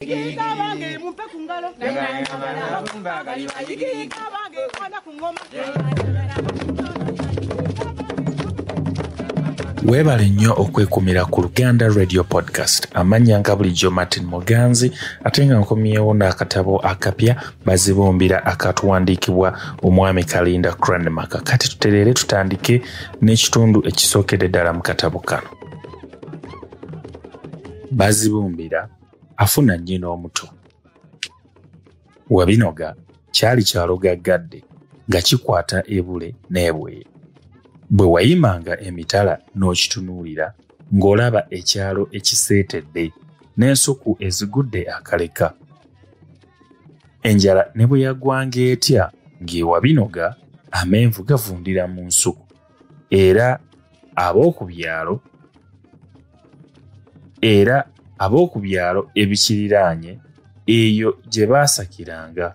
Yiga bange mumpe ku ngalo Yiga bange kwana ku ngoma weebale nnyo okwekumira ku luganda radio podcast amannya nga bulijjo martin muganzi ate nga nkomyewo n'akatabo akapya bazibumbira akatuwandiikibwa omwami kalinda cranmaka kati tutereere tutandike n'ekitundu ekisookedde ddala mu katabo kano bazibumbira afuna nnyina omuto wabinoga kyali kyalogaggadde nga kikwata ebule n'ebweyo bwe wayimanga emitala n'okitunuulira ng'olaba ekyalo ekiseetedde n'ensuku ezigudde akaleka enjala ne bwe yagwanga etya ng'ewabinoga amenvu gavundira mu nsuku era ab'oku byalo era ab'oku byalo ebikiriraanye eyo gye baasakiranga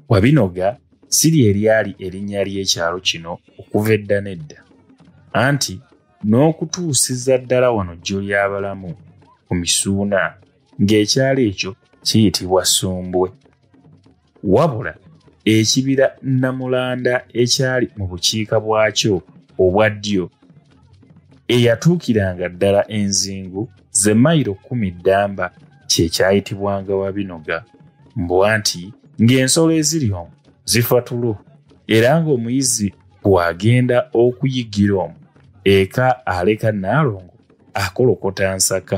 wabinoga si lye lyali erinnya ly'ekyalo kino okuva edda n'edda anti n'okutuusiza ddala wano jjo ly'abalamu ku misuuna ng'ekyalo ekyo kiyitibwa sumbwe wabula ekibira namulanda ekyali mu bukiika bwakyo obwa ddyo eyatuukiranga ddala enzingu ze mayiro kkumi ddamba kye kyayitibwanga wabinoga mbwa nti ng'ensolo eziri omu zifa tulo era ng'omuyizi bw'agenda okuyiggira omu eka aleka naalongo akolokota nsaka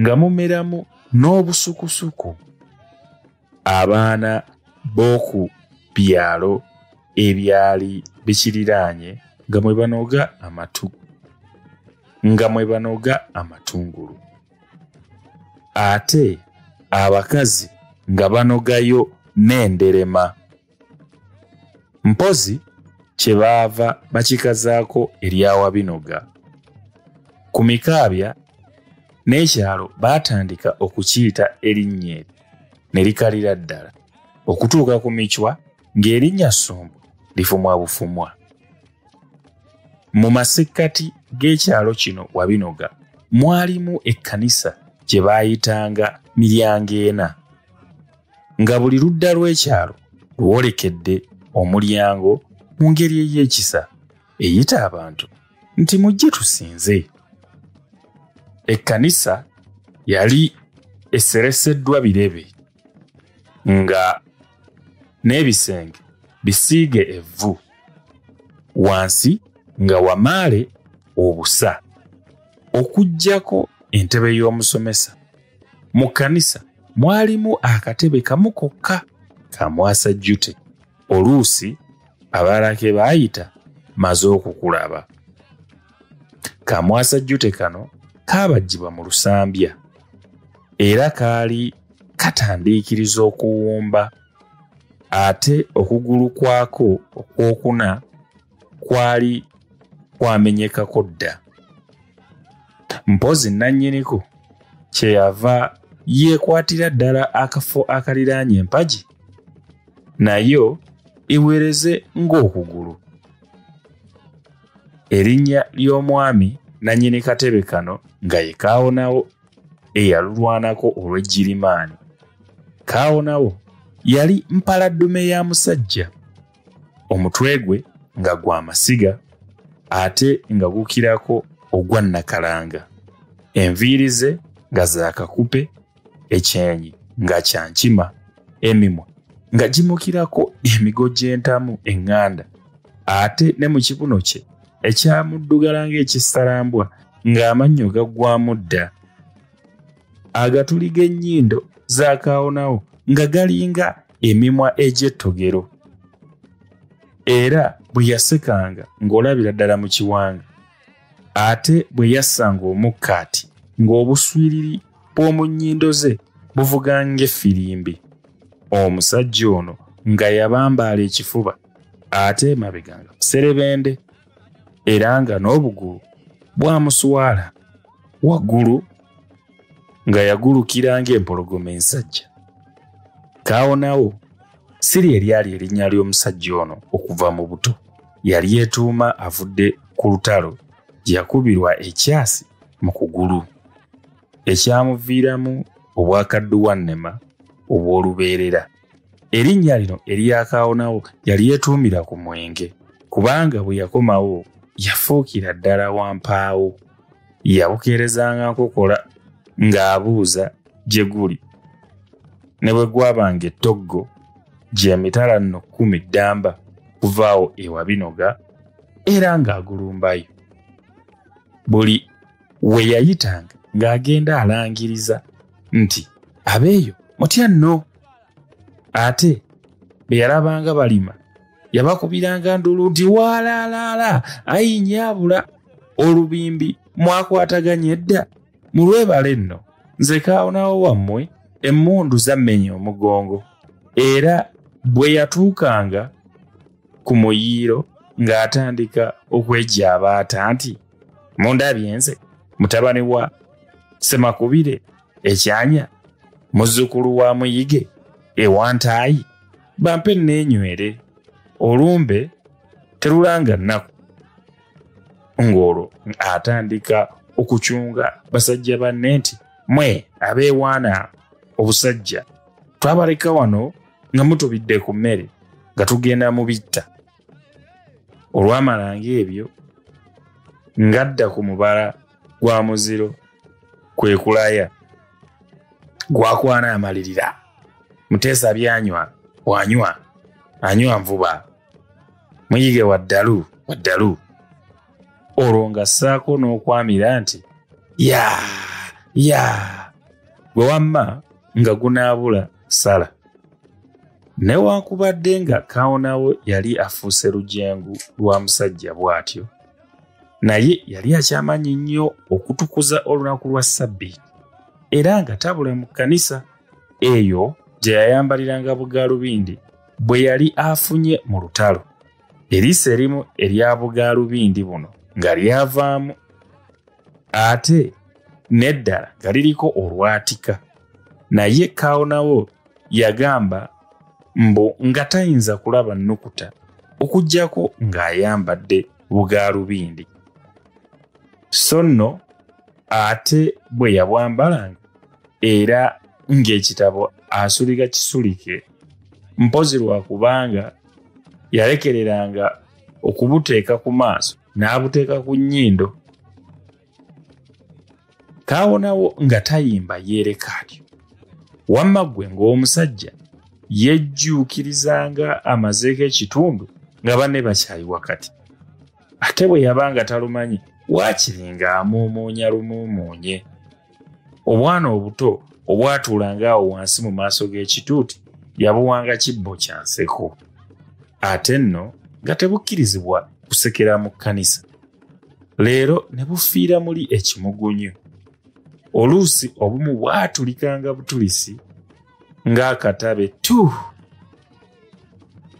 nga mumeramu n'obusukusuku abaana b'oku byalo ebyali bikiriraanye nga mwe banoga amatu nga mwe banoga amatungulu ate abakazi nga banogayo n'enderema mpozi kye baava bakikazaako eryawa binoga ku mikaabya n'ekyalo baatandika okukiyita erinnya eryo ne likalira ddala okutuuka ku micwa ng'erinnya sumbu lifumwa bufumwa mu masekkati g'ekyalo kino wabinoga mwalimu ekkanisa gye baayitanga miryango ena nga buli ludda lw'ekyalo lwolekedde omulyango mu ngeri ey'ekisa eyita abantu nti mujje tusinze ekkanisa yali esereseddwa birebe nga n'ebisenge bisiige evvu wansi nga wamaale obusa okuggyako entebe y'omusomesa mu kkanisa mwalimu akatebe kamu kokka ka mwasa jute oluusi abalake baayita maze okukulaba ka mwasa jute kano kaabajjibwa mu lusambya era kaali katandiikiriza okuwumba ate okugulu kwako okwokuna kwali kwamenyekako dda mpozi nannyiniku kyeyava yeekwatira ddala akafo akaliraanye empagi nayo iweereze ng'okugulu erinnya ly'omwami nannyini katebe kano nga ye kaawonawo eyalulwanako olw'ejjirimaani kaawonawo yali mpaladdume ya musajja omutwe gwe nga gwa masiga ate nga gukirako ogwa nakalanga enviiri ze nga zakakupe ekyenyi nga kyankima emimwa nga gimukirako emigo gy'entamu eŋŋanda ate ne mu kibuno kye ekyamuddugala ng'ekissalambwa ng'amannyo gaggwamu dda agatuli g'ennyindo zaakaawonawo nga galinga emimwa egy'ettogero era bwe yasekanga ng'olabira ddala mu kiwanga ate bwe yassanga omukkaati ng'obuswiriri bw'omu nnyindo ze buvuga ng'effirimbi omusajja ono nga yabambaala ekifuba ate emabega nga muserebende era nga n'obugulu bwamuswala waggulu nga yagulukira ng'empologoma ensajja kaawonawo siri eryali erinnya ly'omusajja ono okuva mu buto yali yetuuma avudde ku lutalo gye yakubirwa ekyasi mu kugulu ekyamuviiramu obwakadduwannema obw'olubeerera Erinnya lino eryakaawonawo yali yetuumira ku mwenge kubanga bwe yakomawo yafuukira ddala wampaawo yabukeerezanga nkokola ng'abuuza gye guli ne bwe gwabanga ettoggo gy'emitala nno kkumi ddamba kuvaawo ewa binoga era ng'agulumbayo buli we yayitanga ng'agenda alangiriza nti abeeyo mutya nno ate be yalabanga balima yabakubiranga ndulu nti waalaalaala ayinyaabula olubimbi mwakwataganye dda mu lwebale nno nze kaawonawo wammwe emmundu zammenya omugongo era bwe yatuukanga ku muyiiro ng'atandika okwegya abaata nti mundabye nze mutabani wa semakubire ekyanya muzzukulu wa muyige ewantaayi bampe neenywere olumbe terulanga nnaku ng'olwo atandika okucunga basajja banne nti mwe abeewaana obusajja twabaleka wano nga mutubidde ku mmere nga tugenda mu bitta olwamala ng'ebyo ng'adda ku mubala gwa muziro kwe kulaya gwakwana amalirira muteesa byanywa wanywa anywa nvuba muyige waddalu waddalu olwo nga ssaako n'okwamira nti ya ya gwe wamma nga gunaabula sala newankubadde nga kawonawo yali afuuse lujengu lwa musajja bw'atyo naye yali akyamanyi nnyo okutukuza olunaku lwa ssabbiiti era nga tabula mu kkanisa eyo gye yayambaliranga bugaalubindi bwe yali afunye mu lutalo eriiso erimu erya bugaalubindi buno nga lyavaamu ate n'eddala nga liriko olwatika naye kaawonawo yagamba mbu nga tayinza kulaba nnukuta okugyako ng'ayambadde bugaalubindi so nno ate bwe yabwambalanga era ng'ekitabo asulika kisulike mpozi lwakubanga yalekereranga okubuteeka ku maaso n'abuteeka ku nnyindo kaawonawo nga tayimba yeereka atyo wamma ggwe ng'omusajja yejjuukirizanga amazeeko ekitundu nga banne bakyayi wakati ate bwe yabanga talumanyi waakiringa amuumuunya lumuumuunye obwana obuto obwatuulanga awo wansi mu maaso g'ekituuti yabuwanga kibbo kya nseko ate nno nga tebukkirizibwa kusekera mu kkanisa leero ne bufiira muli ekimugunyu oluusi obumu bwatulikanga butulisi ng'akatabe tuh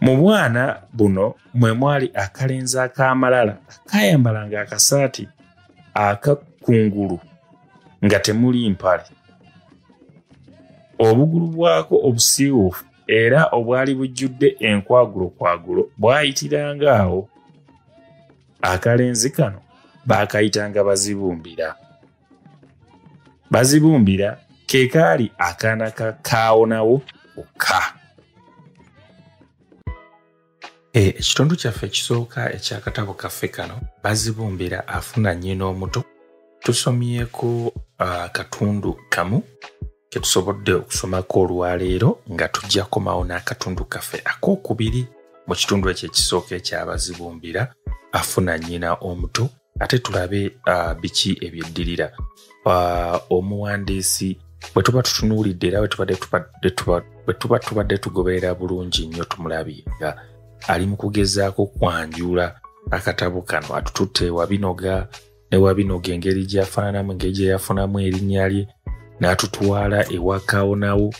mu bwana buno mwe mwali akalenzi ak'amalala akayambalanga akasaati akakungulu nga temuli mpale obugulu bwako obusiiwuufu era obwali bujjudde enkwagulo kwagulo bwayitiranga awo akalenzi kano baakayitanga bazibumbira bazibumbira ke kaali akaana ka kaawonawo okka Eh, ekitundu kyaffe ekisooka ekyakatabo kaffe kano bazibumbira afuna nnyina omuto tusomyeko ah, akatundu kamu ketusobodde okusomako olwaleero nga tujja komawo n'akatundu kaffe ak'okubiri mu kitundu ekyo ekisooka ekyabazibumbira afuna nnyina omuto ate tulabe uh, biki ebyeddirira uh, omuwandiisi bwe tuba tutunuulidde era bwe tuba tubadde tugoberera bulungi nnyo tumulabye nga ali mu kugezaako kwanjula akatabo kano atututte wabinoga ne wabinoga engeri gyafaananamu engeri gye yafunamu erinnya lye n'atutwala ewakawo nawo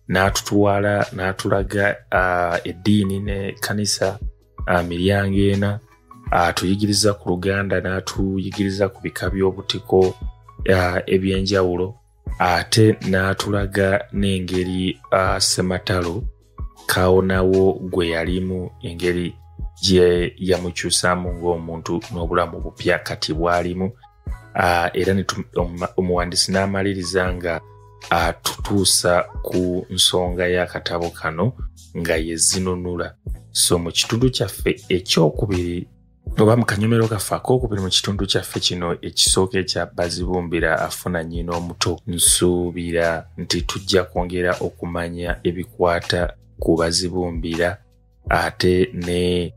n'atutwala n'atulaga uh, eddiini ne kanisa uh, miryango ena atuyigiriza ku luganda n'atuyigiriza ku bika by'obutiko uh, eby'enjawulo ate n'atulaga n'engeri uh, sematalo kawonawo gwe yalimu engeri gye yamukyusamu ng'omuntu n'obulamu bupya kati bwalimu uh, era omuwandisi n'amaliriza nga atutuusa uh, ku nsonga y'akatabo kano nga yezinunula so mu kitundu kyaffe ekyokubiri oba mu kanyomero kaffe akokubiri mu kitundu kyaffe kino ekisooka ekya bazibumbira afuna nyina omuto nsuubira nti tujja kwongera okumanya ebikwata ku bazibumbira ate ne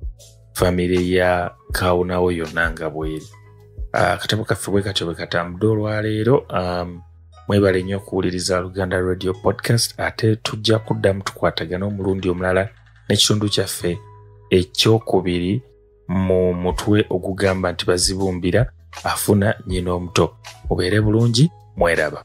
famire ya kawunawo yonna nga bweri ah, akatabo kaffe bwe katyo bwe katambude olwaleero um, mwebale nnyo okuwuliriza luganda radio podcast ate tujja kuddamu tukwatagana omulundi omulala n'ekitundu kyaffe ekyokubiri mu mutwe ogugamba nti bazibumbira afuna nyina omuto mubeere bulungi mweraba